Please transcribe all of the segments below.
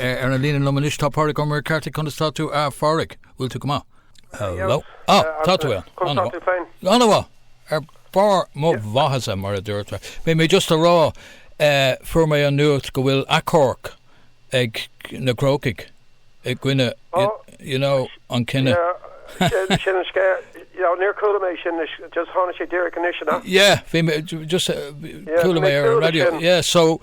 Ar an líne liom anois tá Pádraig Ó Muircheartaigh. Conas tá tú a Phádraig? Bhfuil tú go maith? Hello. Á, tá tú ann. Conas tá tú féin? An-mhaith. Ar barr mo mhaitheasa, mar a deirtear. Bhí mé just a rá, fuair mé an nuacht go bhfuil achomharc ag na Crócaigh i gcoinne, you know, an cinneadh. Sin an scéal. Yeah, níor chuala mé sin just tháinig sé díreach anois, you know. Yeah, bhí mé just chuala mé ar an radio. Yeah, so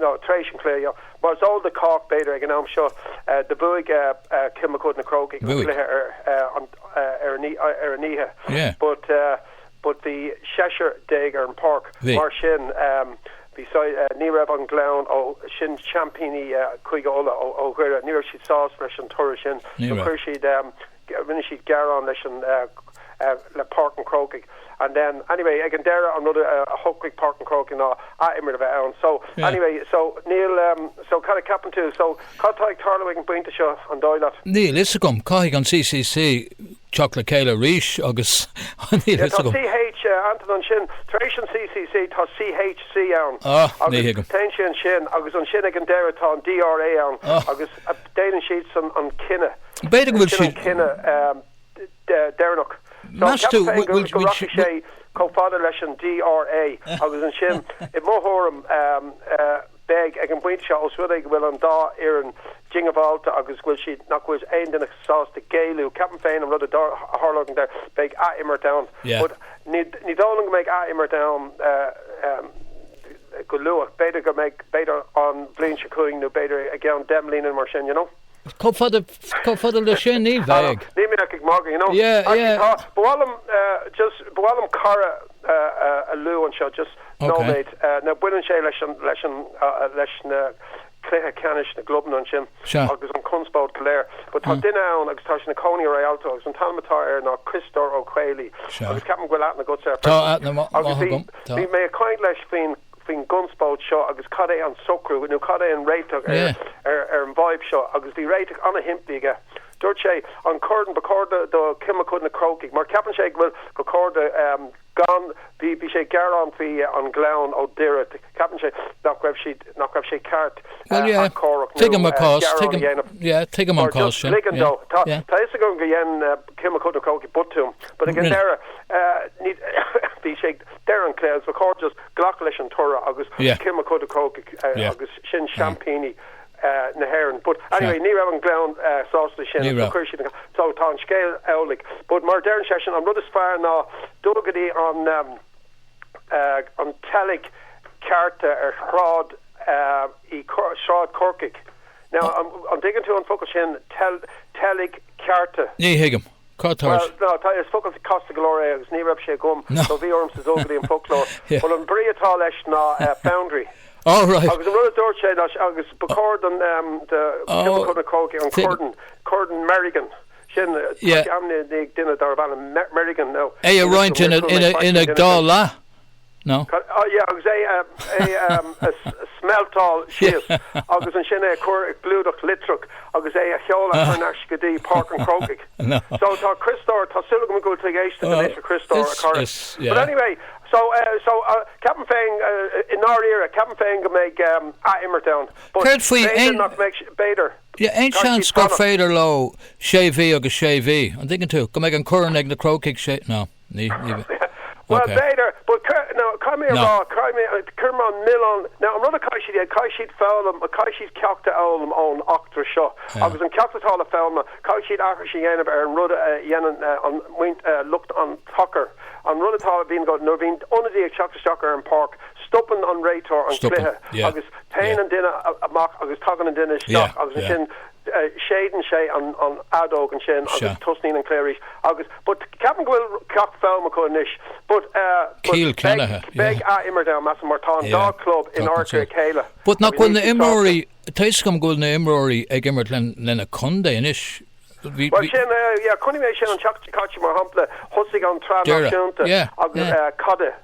nó tar éis an chluiche, yeah. Mar is eol do chách, b'fhéidir, ag an am seo, do bhuaigh Cill Mochuda Na Crócaigh an cluiche ar an oíche, but but bhí seisear déag ar an pháirc, mar sin bhí siad, ní raibh an Gleann, ó sin seaimpíní Chúige Uladh, ó Dhoire, ní raibh siad sásta leis an toradh sin, so chuir siad, rinne siad gearán leis an, le Páirc an Chrócaigh and then anyway ag an deireadh an rud a shocraigh Páirc an Chrócaigh ná ath-imirt a bheith ann so anyway so níl ehm so cad a ceapann tú so cad atá ag tarlú ag an bpointe seo an dóigh leat? Níl fhios agam, caithfidh an CCC teacht le chéile arís agus níl fhios agam. Yeah tá CHC ann ansin tar éis an CCC tá CHC ann agus téann sé ansin agus ansin ag an deireadh tá an DRA ann agus. Déanann siadsan an cinneadh. B'fhéidir go bhfuil siad. Sin an cinneadh deireanach. Meas tú go rachaidh sé chomh fada leis an DRA agus ansin, i mo thuairim, beidh, ag an bpointe seo, os rud é go bhfuil an dá fhoireann diongbháilte agus go bhfuil siad, nach bhfuil aon duine sásta géilleadh, ceapaim féin an rud a tharlóidh ag an deireadh, beidh ath-imirt ann. Ní dóigh liom go mbeidh ath-imirt ann. go luath. B'fhéidir go mbeidh, b'fhéidir an bhliain seo chugainn nó b'fhéidir i gceann deich mbliana nó mar sin, you know. Chomh fada, chomh fada le sin, ní bheidh. Níl mé ach ag magadh, you know. Yeah, yeah. Ach tá, ba mhaith liom just, ba mhaith liom cara a luadh anseo just nóiméad. Now baineann sé leis an, leis an, leis na, cluiche ceannais na gclubanna ansin Sea. agus an chonspóid go léir. But tá duine ann agus tá sé ina chónaí i Rialto agus an t-ainm atá air ná Críostóir Ó Caollaí Sea. agus ceapaim go bhfuil aithne agatsa air Tá freisin. aithne maith Agus bhí, agam, tá. bhí mé ag caint leis faoin, faoin gconspóid seo agus cad é an socrú nó cad é an réiteach ar, Yeah. ar, ar an bhfadhb seo agus bhí réiteach ana-shimplí aige. Dúirt sé, an corn, ba chóir do, do Cill Mochuda na Crócaigh, mar ceapann sé go bhfuil, ba chóir do, ehm, gan, bhí, bhí sé ag gearán faoi an Ghleann ó Doire, Ceapann sé nach raibh siad, nach raibh sé ceart Well, yeah. achomharc nó Tuigim an cás. gearán a Tuigim, dhéanamh. yeah, tuigim an Or cás just sin. ligean dó. Yeah, Tá yeah. tá 'fhios agam gur dhein uh, Cill Mochuda Crócaigh botún, but ag an Really? deireadh, uh, ní, bhí sé ag deireadh an chluiche, ba chóir just glacadh leis an toradh agus Yeah. Cill Mochuda Crócaigh uh, Yeah. agus sin seaimpíní uh, na hÉireann. But anyway, ní raibh an Gleann uh, sásta sin. Ní raibh. Chuir siad an- So tá an scéal amhlaidh. But mar deireann seisean, an rud is fearr ná dul go dtí an um, an teilgcheárta ar Shráid Chorcaí. Now, an dtuigeann tú an focal sin, teilgcheárta? Ní thuigim. Cad tá uait? Bhuel, tá, is focal casta go leor é agus ní raibh sé agam so bhí ormsa dul go dtí an foclóir. Bhuel, an brí atá leis ná foundry. Oh, right. Agus an rud a dúirt sé ná, agus ba chóir don, do, cad é an focal na Crócaigh, an corn, Corn Merrigan. sin, atá ainmnithe as duine darb ainm Merrigan. Now, é a roinnt ina dhá leath, nó? Yeah, agus é a smelteáil síos agus ansin é a chur i gclúdach litreach agus é a sheoladh thar n-ais go dtí Páirc an Chrócaigh. So, tá Criostóir, tá súil agam go bhfuil tú ag éisteacht anois, a Chriostóir, a chara. But anyway, so, so, ceapaim féin, i ndáiríre, ceapaim féin go mbeidh athimirt ann. Céard faoi aon. B'fhéidir nach mbeidh, b'fhéidir. Bhfuil aon Tá sé seans gur fánach. féidir leo sé mhí agus sé mhí, an dtuigeann tú, go mbeidh an corn ag na Crócaigh sé, no, ní, ní bheidh. Bhuel, Ok. b'fhéidir, but cur, no, caithfidh mé a No. rá, caithfidh mé, cuirim an milleán, no, an rud a chaithfidh siad a dhéanamh, caithfidh siad foghlaim, caithfidh siad ceacht a fhoghlaim ón eachtra seo Yeah. agus an ceacht atá le foghlaim, caithfidh siad aithris a dhéanamh ar an rud a dhéanann an muin, lucht an tsacair, an rud atá, a bhíonn, nuair a bhíonn ionadaí ag teacht isteach ar an pháirc, Stopann an réiteoir an cluiche agus téann an duine amach agus tagann an duine isteach agus ansin séideann sé an fheadóg ansin agus tosnaíonn an cluiche arís agus but ceapaim go bhfuil ceacht foghlamtha acu anois but cinnte yeah beidh athimirt ann measaim mar tá an dá chlub in adharca a chéile But nach bhfuil na imreoirí, tá a fhios agam go bhfuil na imreoirí ag imirt lena contae anois, bhí, bhí, Bhuel sin, yeah, chonaic mé sin an tseachtain seo caite mar shampla, thosaigh an tSraith Peile Náisiúnta yeah, agus yeah. eh, cad i.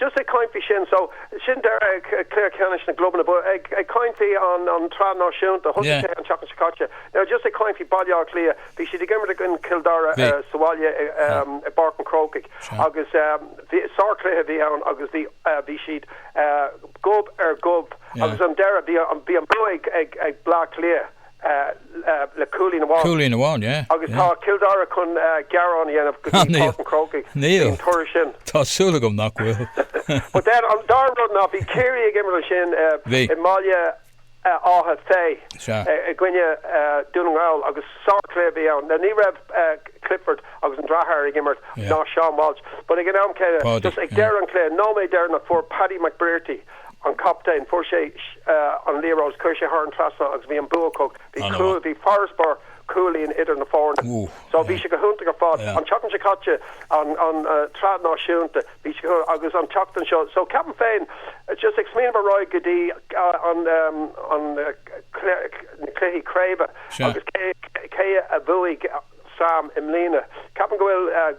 just ag caint faoi sin so sin deireadh chluiche ceannais na gclubanna but ag ag caint faoi an an tsraith náisiúnta thosaigh yeah sé an tseachtain seo caite now just ag caint faoi Baile Átha Cliath bhí siad ag imirt i gcoinne Cill Dara bhí sa bhaile i yeah um, i bPáirc an Chrócaigh sure agus um, bhí sárchluiche bhí ann agus bhí uh, bhí siad uh, gob ar gob yeah agus an deireadh bhí an bhí an bua ag ag Bleá Cliath le cúilín amháin. Cúilín amháin, yeah. Agus tá Cill Dara chun gearán a dhéanamh go dtí Páirc an Chrócaigh faoin toradh sin. Níl. Tá súil agam nach bhfuil. But then, an dara rud ná bhí Ciarraí ag imirt ansin i mBealach Féich i gcoinne Dún na nGall agus sárchluiche a bhí ann. Now ní raibh Clifford agus an deartháir ag imirt, ná Seán Walsh, but ag an am céanna, just ag deireadh an chluiche, nóiméad deireanach, fuair Paddy McBrearty, an captaen. Fuair sé an liathróid, chuir sé thar an trasnán agus bhí an bua acu. Bhí cúl, bhí farasbarr cúilín idir na foirne. So bhí sé go hiontach ar fad. An tseachtain seo caite, an tsraith náisiúnta, bhí sé go, agus an tseachtain seo. So ceapaim féin, just ag smaoineamh ar aghaidh go dtí an na cluichí craoibhe agus cé a bhuafaidh Sam i mbliana, ceapaim go bhfuil,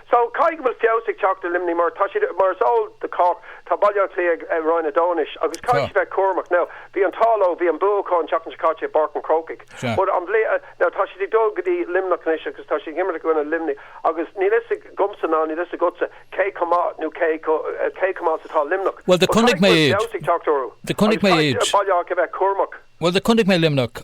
So, caithfidh go bhfuil feabhas ag teacht ar Luimneach mar tá siad, mar is eol do chách, tá Baile Átha Cliath i Roinn 2 anois agus caithfidh siad bheith cúramach. Now, bhí an t-ádh leo, bhí an bua acu an tseachtain seo caite i bPáirc an Chrócaigh but an bhliain, now tá siad ag dul go dtí Luimneach anois agus tá siad ag imirt i gcoinne Luimnigh agus níl 'fhios agamsa ná níl 'fhios agatsa cé chomh maith nó cé chomh maith is atá Luimneach Well, do but chonaic caithfidh go mé bhfuil iad. feabhas ag teacht orthu Do chonaic agus mé caithfidh iad. Baile Átha Cliath bheith cúramach. Well, do chonaic mé Luimneach.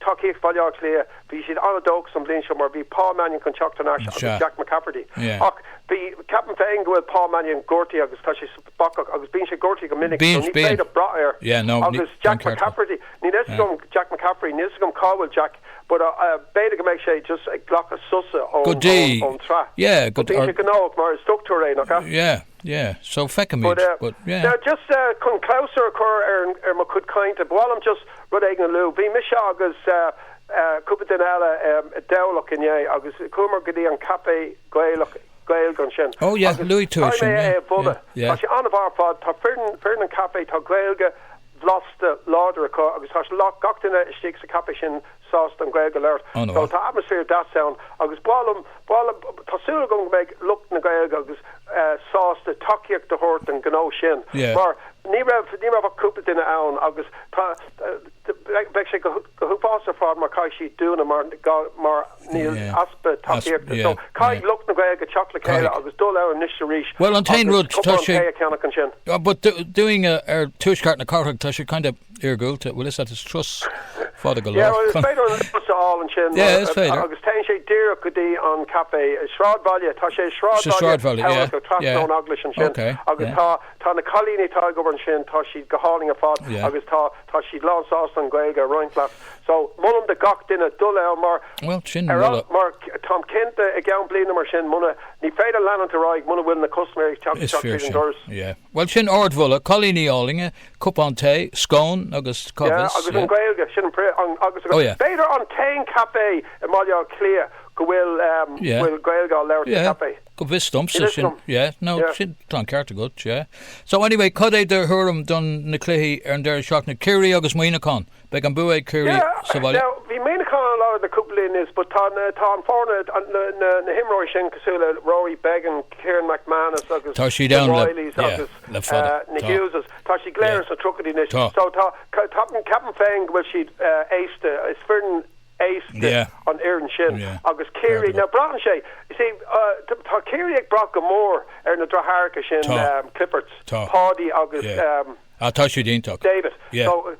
tacaíocht Bhaile Átha Cliath, bhí siad an-dóchasach an bhliain seo mar bhí Paul Mannion chun teacht thar n-ais agus Jack McCaffrey ach bhí, ceapaim féin go bhfuil Paul Mannion gortaithe agus tá sé bacach agus bíonn sé gortaithe go minic so ní féidir brath air agus Jack McCaffrey, níl 'fhios agam, Jack McCaffrey, níl 'fhios agam cá bhfuil Jack but b'fhéidir go mbeidh sé just ag glacadh sosa ón tsraith, bíonn sé gnóthach mar is dochtúir é, nach ea? Yeah, so feicfimid, but yeah. Now just chun clabhsúr a chur ar mo chuid cainte, ba mhaith liom just rud éigin a lua. Bhí mise agus cúpla duine eile i dTamhlacht inné agus chuamar go dtí an caifé Gaelach, Gaeilge ansin. Oh yeah, luaigh tú é sin, yeah, yeah. Tá sé an-mhaith ar fad, tá foireann an chaifé, tá Gaeilge bhlasta láidir acu agus tá gach duine istigh sa chaifé sin sásta an Ghaeilge a labhairt. An bhfuil? So, tá atmaisféar deas ann agus b'fhearr liom, b'fhearr liom, tá súil agam go mbeidh lucht na Gaeilge agus eh, sásta tacaíocht a thabhairt don ghnó sin Yeah. mar ní raibh, ní raibh ach cúpla duine ann agus tá eh, bheadh sé go, go huafásach ar fad má chaitheann siad dúnadh mar go, mar níl, Yeah. easpa As- tacaíochta. So, yeah, caithfidh yeah. lucht na Gaeilge teacht le chéile Caithfidh. agus dul ann anois is arís Bhuel, an t-aon agus rud, tá cupán sé- tae a cheannach ansin. Ah, but do- doing a, ar tuaisceart na cathrach, tá sé kind of iargúlta, bhuel is ait, is turas fada go Yeah, lár. bhuel is féidir an Luas a fháil ansin Yeah, is féidir. agus téann sé díreach go dtí an café. Sráidbhaile, tá sé i Sa sráidbhaile sráidbhaile, yeah, Thamhlachta trasna yeah. ón eaglais ansin Okay, agus yeah. tá, tá na cailíní atá ag obair ansin, tá siad go hálainn ar fad Yeah. agus tá, tá siad lán sásta an Ghaeilge a roinnt leat. So, molaim do gach duine dul ann mar Well, sin ardmholadh. mar táim cinnte i gceann bliana mar sin muna ní féidir leanúint ar aghaidh muna bhfuil na custaiméirí ag teacht Is isteach fíor an sin. doras. Yeah. Well, sin ardmholadh, cailíní áille, Cupán tae, scone agus Yeah, comhrá, agus an yeah. Ghaeilge, sin an, agus an, Oh yeah. b'fhéidir an t-aon café i mBaile Átha Cliath go bhfuil, ehm, Yeah. bhfuil Gaeilge á labhairt sa Yeah, café. go bhfios domsa Níl a fhios sin, agam. yeah, no, Yeah. sin, tá an ceart agat, yeah. So anyway, cad é do thuairim do na cluichí ar an deireadh seachtaine, Ciarraí agus Muineachán? Beidh an bua ag Ciarraí sa bhaile. Now, bhí Muineachán an-lag le cúpla bliain anuas but tá an fhoireann, na himreoirí sin cosúil le Rory Beggan, Ciaran McManus agus na Reillys agus na Hugheses, tá siad go léir ins na triochaidí anois so tá, ceapaim féin go bhfuil siad aosta, is foireann aosta an fhoireann sin agus Ciarraí, now braitheann sé, you see, tá Ciarraí ag brath go mór ar na deartháireacha sin, Cliffords, Paudie agus. Ah, tá siad iontach. David, Yeah. So,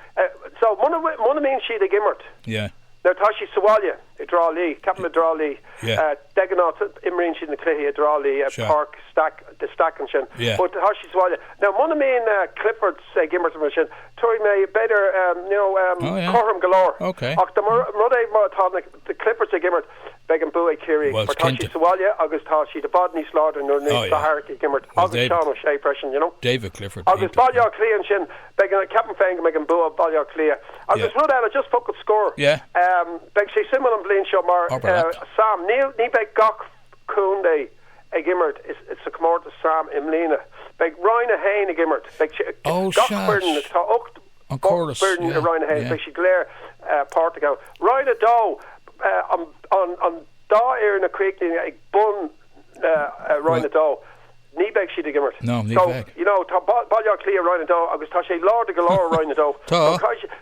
so muna, muna mbíonn siad ag imirt. Yeah. Nuair atá siad sa bhaile, i dTrá Lí, ceapaim i dTrá Lí, Yeah. eh, de ghnáth t- imríonn siad na cluichí i dTrá Lí, eh, Sure. Páirc Stack, the Stack ansin. Yeah. But tá siad sa bhaile. Now, muna mbíonn, eh, Cliffords ag imirt mar sin, tabharfaidh mé b'fhéidir, em, you know, em, Oh, yeah. cothrom go leor. Okay. Ach, ar ndóigh, má tá na, the Cliffords ag imirt, Beidh an bua ag Ciarraí mar tá siad sa bhaile agus tá siad i bhfad níos láidre nuair atá Clifford ag imirt agus Seán O'Shea freisin, you know. Agus Baile Átha Cliath ansin, ceapaim féin go mbeidh an bua ag Baile Átha Cliath. Agus rud eile, just focal scoir, beidh sé suimiúil an bhliain seo mar, Sam, ní bheidh gach contae ag imirt sa chomórtas Sam i mbliana. Beidh Roinn 1 ag imirt, beidh gach foireann, tá ocht. an córas, yeah, yeah. Beidh siad go léir páirteach ann. Roinn a dó, an dá fhoireann a chríochnaíonn ag bun Roinn a dó, ní bheidh siad ag imirt. No, ní bheidh. So, you know, tá Baile Átha Cliath Roinn a dó agus tá siad láidir go leor i Roinn a dó. Tá.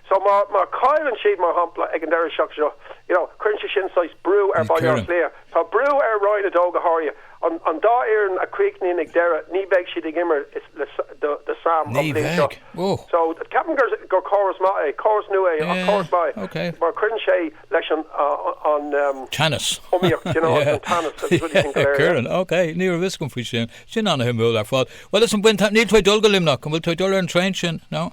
So má chailleann siad, mar shampla, ag an deireadh seachtaine seo, you know, cuireann sé sin saghas brú ar Bhaile Átha Cliath. Tá brú ar Roinn a dó go háirithe. An dá fhoireann a chríochnaíonn ag deireadh, ní bheidh siad ag imirt do Sam an bhliain seo. So, ceapaim gur córas maith é. Córas nua é, ach córas maith é. Mar cuireann sé leis an iomaíocht, you know, agus an teannas agus rudaí sin go léir. Cuireann, ok. Ní raibh fhios agam faoi sin. Sin an-suimiúil ar fad. Bhuel, listen, níl tú ag dul go Luimneach, an bhfuil tú ag dul ar an traen sin, no?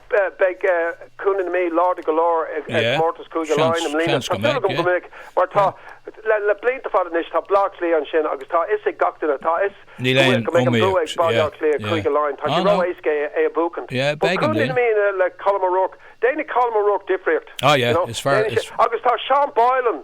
Beidh Contae na Mí láidir go leor i gcomórtas Chúige Laighean i mbliana. Tá súil agam go mbeidh, mar tá, le blianta fada anois, tá Bleá Cliath ansin agus tá a fhios ag gach duine, tá a fhios go bhfuil, go mbeidh an bua ag Baile Cliath, Cúige Laighean. Tá sé ró-éasca é a bhuachan. Beidh Contae na Mí le Colm O'Rourke. Déanfaidh Colm O'Rourke difríocht. Agus tá Seán Boylan